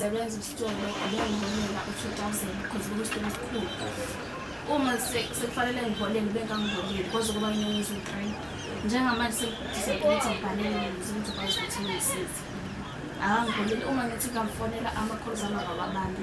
ngisebenza isitolo bengiholela u-two thousand because bekuyisitolo esikhulu uma sekufanele ngiholele bengangiholeli kwaze kuba inyanga eziwu-three njengamanje sengidisayidile ukuthi ngibhalele ukuze ngizokwazi ukuthi ngisize akangiholeli uma ngithi ngamfonela ama-calls ami akawabambi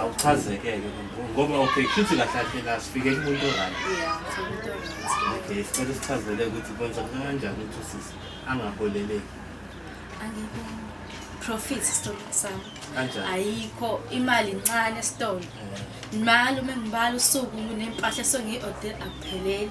awuchazekeke ngoba okay kushuthi kahle kahle la sifike kumuntu right okay sicela sichazele ukuthi kwenza kanjani ukuthi usisi angaholeleki angikho profit isitolo sami kanjani ayikho imali incane esitolo eh. imali uma ngibala usuku nempahla songiyi-order akupheleli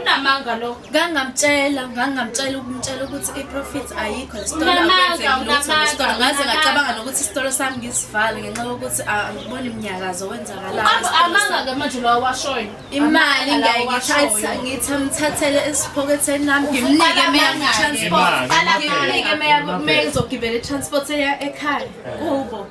unamanga lo ngangamtshela ngangamtshela ukumtshela ukuthi i-profit ayikho ngaze ngacabanga nokuthi isitolo sami ngisivale ngenxa yokuthi angiboni mnyakazo wenzakalaamanga-ke manje lowa washoyo imali ngiyayigithi amthathele esiphoketheni nami ngimnike meyangitransport ngimnike meyizogibela i-transport eya ekhaya kubo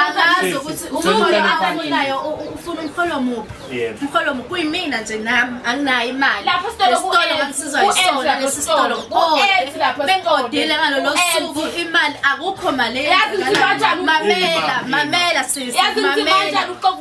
akazi ukuthi umholo abamunayo ufuna umholo muphi umholo muphi kuyimina nje nami anginayo imali lapho sitolo kusiza isona lesi sitolo bengodile ngalolo suku imali akukho mali mamela mamela sisi mamela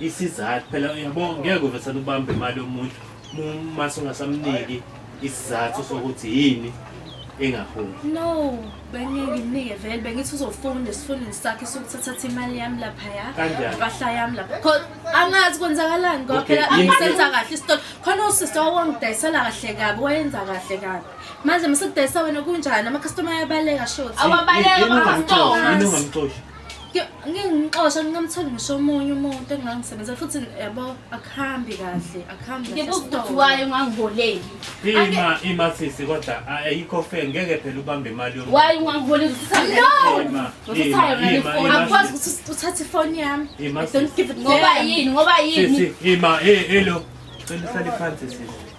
isizathu phela uyabo ngeke uvesana ubambe imali yomuntu uma sungasamniki isizathu sokuthi yini engaholi no bengeke nginike vele bengithi uzofunda esifundini sakhe sokuthathatha imali yami lapha ya impahla yami lapha khona angazi kwenzakalani ngoba phela angisenza kahle isitolo khona usisi owangidayisela kahle kabi wayenza kahle kabi manje msekudayisa wena kunjani amakhastoma ayabaleka shoti awabaleka amakhastoma ngingixosha ngingamtholi ngisho omunye umuntu engingangisebenzela futhi yabo akuhambi kahle akuhambi ngikuzithiwayo ungangiholeli ima ima sisi kodwa ayikho fe ngeke phela ubambe imali yomuntu waye ungangiholeli usithayoakwazi ukuthi uthathe ifoni yami ngoba yini ngoba yini ima elo cela uhlale phansi sisi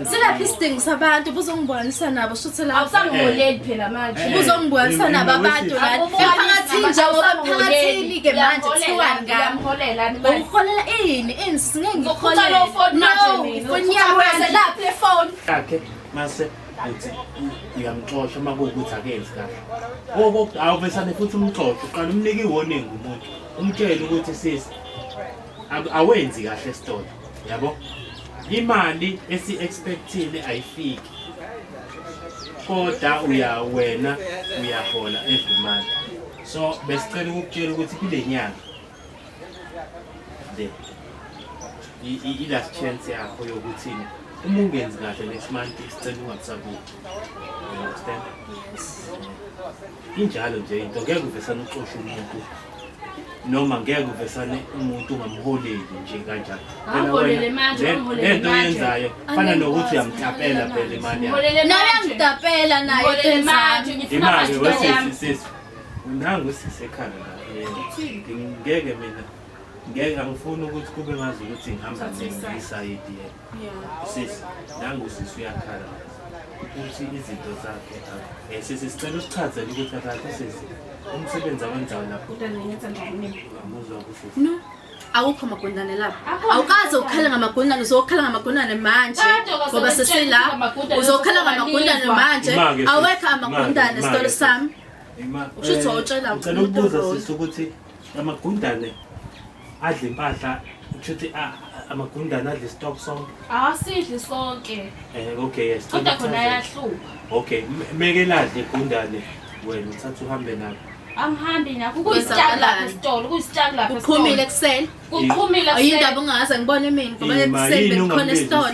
Silaphi isidingo sabantu buzongibonisa nabo shuthi la awusangiboneli phela manje eh, buzongibonisa nabo abantu la emphakathini nje ngoba emphakathini ke manje kuthiwani ngami uholela ini ini singeke ngiholela unyaka laphi le phone yakhe mase uthi uyamxosha uma kuwukuthi akenzi kahle awuvesane futhi umxoxe uqala umnike i-warning umuntu umtshele ukuthi sisi awenzi kahle stolo yabo imali esi expectile ayifiki kodwa uya wena uyahola every month so besicela ukukutshela ukuthi kule nyanga le i last chance yakho yokuthi uma ungenzi kahle next month isicela ungakusabuki understand Injalo nje into ngeke uvesane ucoshe umuntu noma ngeke uvesane umuntu ungamholeli nje kanjalo. Phela wena lento yenzayo fana nokuthi uyamtapela phela imali yakho. Nawe angitapela naye tenzani? Imali wesisi sisi. Unangu sisi ekhanda la. Ngeke mina ngeke angifuni ukuthi kube ngazi ukuthi ngihamba ngisayidi yena. Sisi, nangu sisi uyakhala ukuthi izinto zakhe um eh, sisi sicela usichazele ukuthi akakho sisi umsebenzi awenzayo lapho no awukho amagundane lapho awukaze ukhala ngamagundane uzokhala ngamagundane manje ngoba sesila uzokhala ngamagundane manje awekho amagundane sitolo sami usho ukuthi wawutshela umuntu ukuthi amagundane adla impahla kusho ukuthi ah, amagundane adla istock sonke awasidli sonke um okay yes kodwa khona ayahlupha okay meke ladle igundane wena uthatha uhambe nabo angihambi nakho kuyisitaki lapha esitolo kuyisitaki lapha kuqhumile ekuseni kuqhumile ayindaba ungaze ngibone mina ngoba ekuseni bekukhona esitolo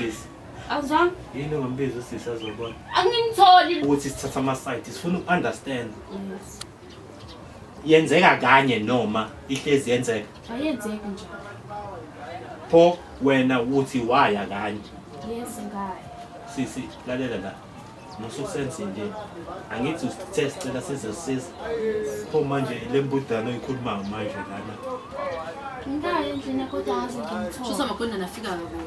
awuzwanga yini ongambiza usisi azobona angimtholi ukuthi sithatha ama-site sifuna uku-understand yenzeka kanye noma ihlezi yenzeka ayenzeki nje pho wena uthi waya kanye yes ngaya sisi lalela la mususenze nje angithi usithe sicela sizosiza pho manje le mbudana oyikhuluma manje lana ngaya endlini kodwa ngaze ngimthole shusa magunda nafika kodwa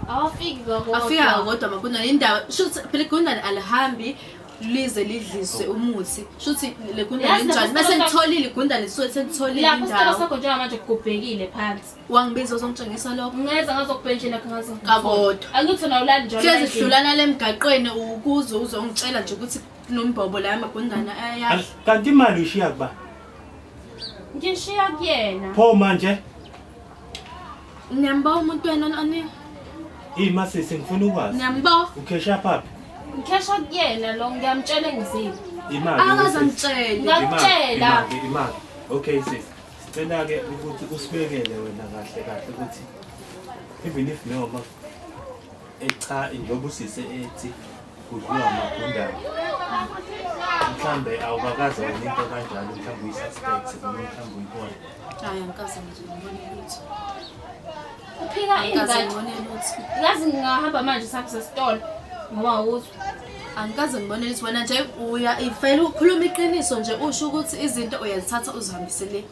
awafiki kodwa afika kodwa magunda indaba shusa phela igundane alihambi lize lidliswe umuthi shuthi le gundane Yazi linjani lapho bese sithola- ngitholile igundane lisuke selitholile lapho isicelo indawo sakho njengamanje kubhekile phansi wangibiza uzongitshengisa lokho ngeza ngazokubhentshela kho ngaze Kakodwa. angithi wena ulali njalo hlezi endlini. hlulana lemgaqweni ukuze uzongitshela nje ukuthi kunombhobo la amagundane ayadla kanti imali uyishiya kuba ngishiya kuyena pho manje Niyambo umuntu wena oni? Hey masisi ngifuna ukwazi. Niyambo? Ukhesha phapi? Ngikhesha kuyena lo ngiyamtshela engizile. Imali. Akaze ngitshele. Ngakutshela. Imali. Okay sis. Sicela ke ukuthi usibekele wena kahle kahle ukuthi even if no Cha njengoba usise ethi kudliwa amagundane mhlawumbe awukakaze wena into kanjalo mhlawumbe uyi-suspect noma mhlawumbe uyibona hayi angikaze nje ngibone lutho uphika ingadi ngibone lutho ngazi ngingahamba manje sakuse sitolo ngoba awuzwa angikaze ngibone lutho wena nje uya ifele ukhuluma iqiniso nje usho ukuthi izinto uyazithatha uzihambise le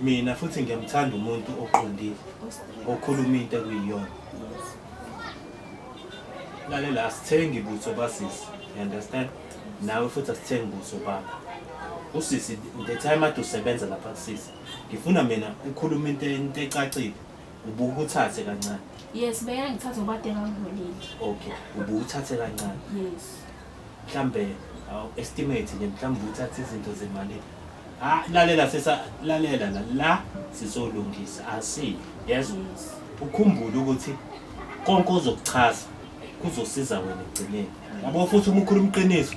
Mina futhi ngiyamthanda umuntu oqondile okhuluma into ekuyiyona. Lalela asithengi butho basisi. You understand? Nawe futhi asithengi butho bakho. Usisi the time ade usebenza lapha kusisi. Ngifuna mina ukhuluma into into ecacile. Ubuke uthathe kancane. Yes, beyangithatha ngoba ade ngangibonile. Okay, ubuke uthathe kancane. Yes. mhlambe estimate nje mhlawumbe uthathe izinto zemali ah lalela sesa lalela la la sizolungisa asi yes ukhumbule ukuthi konke ozokuchaza kuzosiza wena ekugcineni yabo futhi uma ukhuluma iqiniso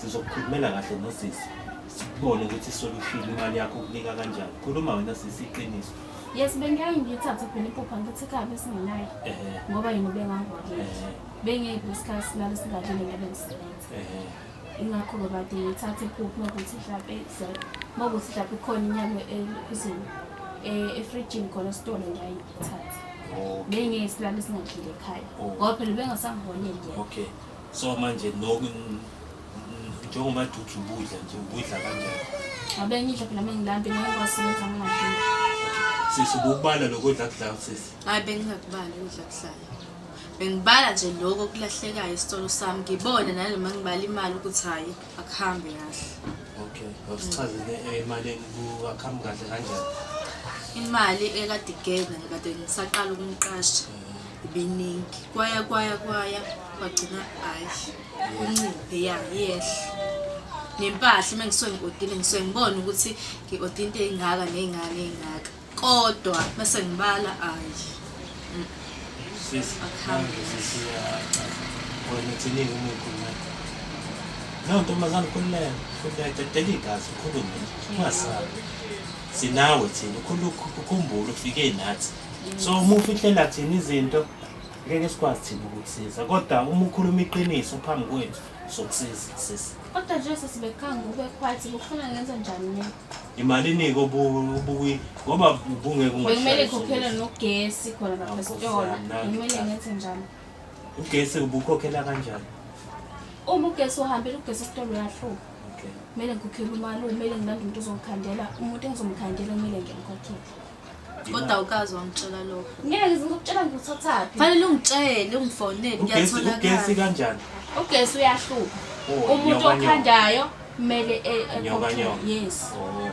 sizokukhulumela kahle nosisi sibone ukuthi solution imali yakho ukunika kanjani khuluma wena sisi iqiniso yes bengiyaye ngiyithathe phela iphupha ngithi kabe singenayo ngoba yini ubengangwakile bengeke isikhathi silale singadlile ngabe ngisebenza ingakho ke bade ngithathe iphupho ukuthi mhlawumbe kuzele uma kuthi mhlawumbe ikhona inyama ekhuzini eh, efrijini khona sitolo ngiyayithatha bengeke silale singadlile ekhaya oh. ngoba phela bengasangiboneli yena okay so manje noku njengoba duthi ubudla nje ubudla kanjani abengidla phela mengilambe ngiwasebenza ngingadlile sisi ubukubala lokudla kudla sisi hayi bengingakubali ukudla kuhlala Bengibala nje lokho kulahlekayo isitolo sami ngibone nanoma ngibala imali ukuthi hhayi akuhambe kahle. Okay, awusichazele emalini kuwakhambi kahle kanjani? Imali ekade igenda ngikade ngisaqala ukumqasha ibiningi kwaya kwaya kwaya kwagcina hhayi kunciphe ya yehle nempahla uma ngisuke ngi-odile ngisuke ngibone ukuthi ngi-ode into ey'ngaka ney'ngaka ney'ngaka Kodwa bese ngibala ayi. Sisi, manje sisi uyachaza. Wena uthini uma ukhuluma? No, ntombazane ukhululeka. Ukhululeka, dedela igazi, ukhulume. Ungasabi. Sinawe thina, ukhululeka, ukhumbule ufike nathi. So uma ufihlela thina izinto, ngeke sikwazi thina ukukusiza. Kodwa uma ukhuluma iqiniso phambi kwethu, sokusiza sisi. Kodwa nje sesibekanga ube quiet ngifuna ngenze njani mina? Imalini-ke obuyi ngoba ubungeke Bekumele ikhokhele nogesi khona lapha esitolo. Bekumele ngenze njalo. Ugesi ubukhokhela kanjani? Uma ugesi uhambile ugesi esitolo uyahluka. Kumele ngikhokhele umalume, kumele ngilande umuntu ozongikhandela, umuntu engizomkhandela kumele ngimkhokhele. kodwa awukazi wangitshela lokho ngeke ngizokutshela ngikuthathaphi fanele ungitshele ungifonele kuyatholakala kanjani ugesi uyahlupha oh, umuntu okhandayo kumele e- e- yes oh.